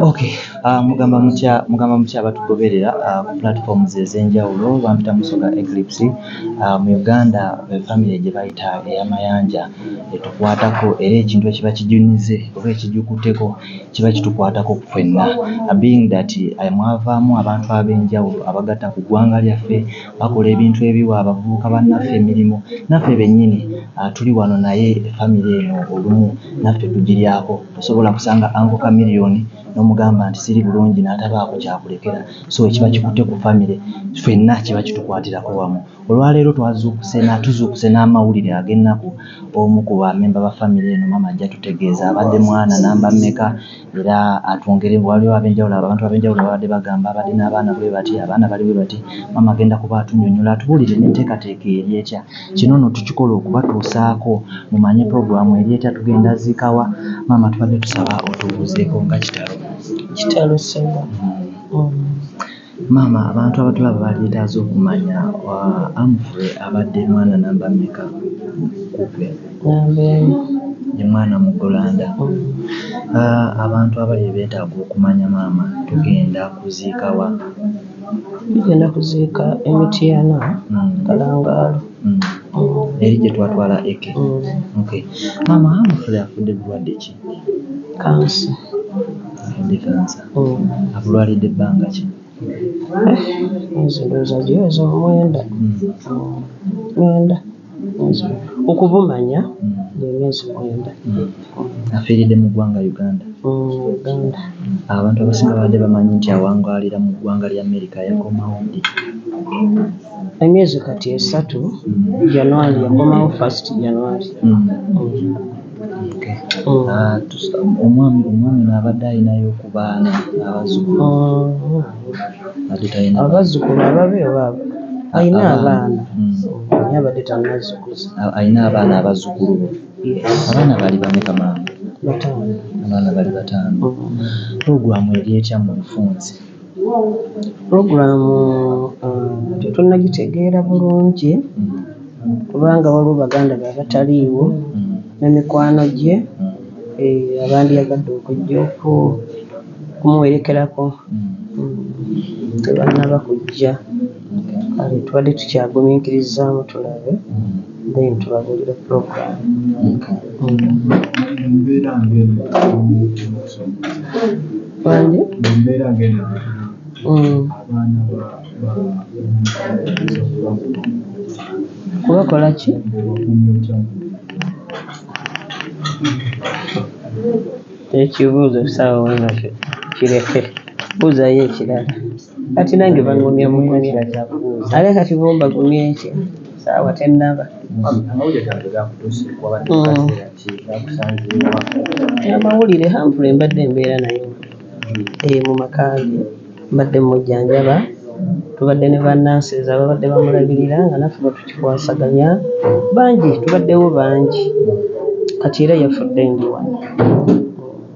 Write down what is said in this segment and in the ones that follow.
Okay, uh, mugamba mutya mugamba mutya abatugoberera uh, ku platforms ez'enjawulo bampita musoga Eclipse uh, mu Uganda be family gye bayita eyamayanja etukwatako era ekintu ekiba kijunize oba ekijukuteko kiba kitukwatako ffenna being that mwavaamu abantu ab'enjawulo abagatta ku ggwanga lyaffe bakola ebintu ebiwa abavubuka bannaffe emirimu, naffe bennyini tuli wano naye famire eno olumu naffe tugiryako. Tosobola kusanga Uncle Chameleon n'omugamba nti siri bulungi n'atabaako ky'akulekera. So ekiba kikutte ku famire ffenna kiba kitukwatirako wamu. Olwaleero twazuukuse na tuzuukuse n'amawulire ag'ennaku omu ku bamemba ba famire eno maama ajja tutegeeza abadde mwana namba mmeka. era atwongere waliwo abenjawulo abantu abenjawulo babadde bagamba abadde n'abaana bwe bati abaana bali bwe bati maama agenda kuba atunyonyola atubuulire n'enteekateeka eri etya kino no tukikola okubatuusaako mumanye puroguramu eri etya tugenda ziikawa maama tubadde tusaba otubuuzeeko nga kitalo kitalo sebo mm. um. Maama abantu abatulaba balyetaaze okumanya Humphrey abadde mwana namba meka kugwe? Namba emu. Ye mwana muggulanda. Abantu abalya betaaga okumanya maama tugenda kuziika wa? Tugenda kuziika e Mityana Kalangaalo. Eri gyetwatwala Eke? Okay. Maama Humphrey afudde bulwadde ki? Kansa. Afudde kansa. Akulwalidde bbanga ki? Emyezi ndowooza giweze omwenda, mwenda okubumanya emyezi mwenda. Afiiridde mu ggwanga Uganda? Uganda. Abantu abasinga babadde bamanyi nti awangaalira mu ggwanga lya Amerika yakomawo ddi? Emyezi kati esatu, January yakomawo first January. Omwami ono abadde alinayo ku baana abazzukulu? Abazzukulu ababe oba abaana? Alina abaana naye abadde tannazikuza. Alina abaana abazzukulu be? Yes. Abaana baali bameka maama? Bataano. Abaana bali bataano. Pulogulaamu eri etya mu bufunze? Program tetunagitegeera bulungi kubanga waliwo baganda be abataliiwo ne mikwano gye abandyagadde okujja okumuwerekerako tebanaba kujja. Kale tubadde tukyaguminkirizaamu tulabe then tubabuulire program. Wangi? Mm. Kubakola ki? Ekibuuzo saawa wano kireke. Buuzayo ekirala. Kati nange bangumya bugumya ate kati bo mbagumye ki saawa tennaba. Amawulire Humphrey mbadde mbeera naye eeh mu maka ge mbadde mmujjanjaba tubadde ne ba nurses ababadde bamulabirira nga naffe bwe tukikwasaganya bangi tubaddewo bangi kati era yafudde ndi wano.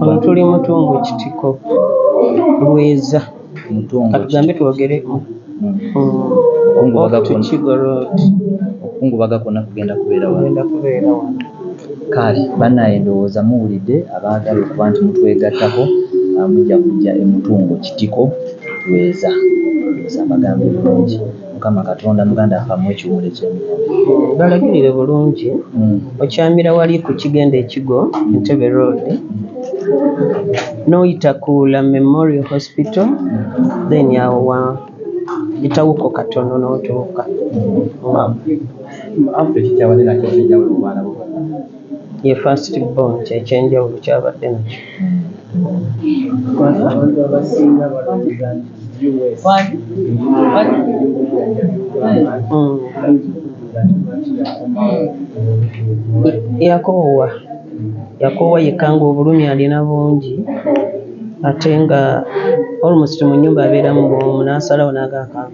Ono tuli mutungo kitiko bweza katugambe twogere okungubaga kwona kugenda kubeera wano kale banaye ndowooza muwulidde abaagala okuba nti mutwegattako mujja kujja emutungo kitiko bweza mbagambye bulungi. Mukama katonda muganda nfa muwe ekiwumulo ekyemirembe. Balagirire bulungi okyamira wali ku kigenda ekigo Entebbe road noyita ku la memorial hospital then awo wa yitawoko katono notuuka. Ye first born kyekyenjawulo kyabadde nakyo. Yakoowa Yakoowa yekka ng'obulumi alina bungi ate nga almost mu nnyumba abeeramu bw'omu n'asalawo n'agaakaaba.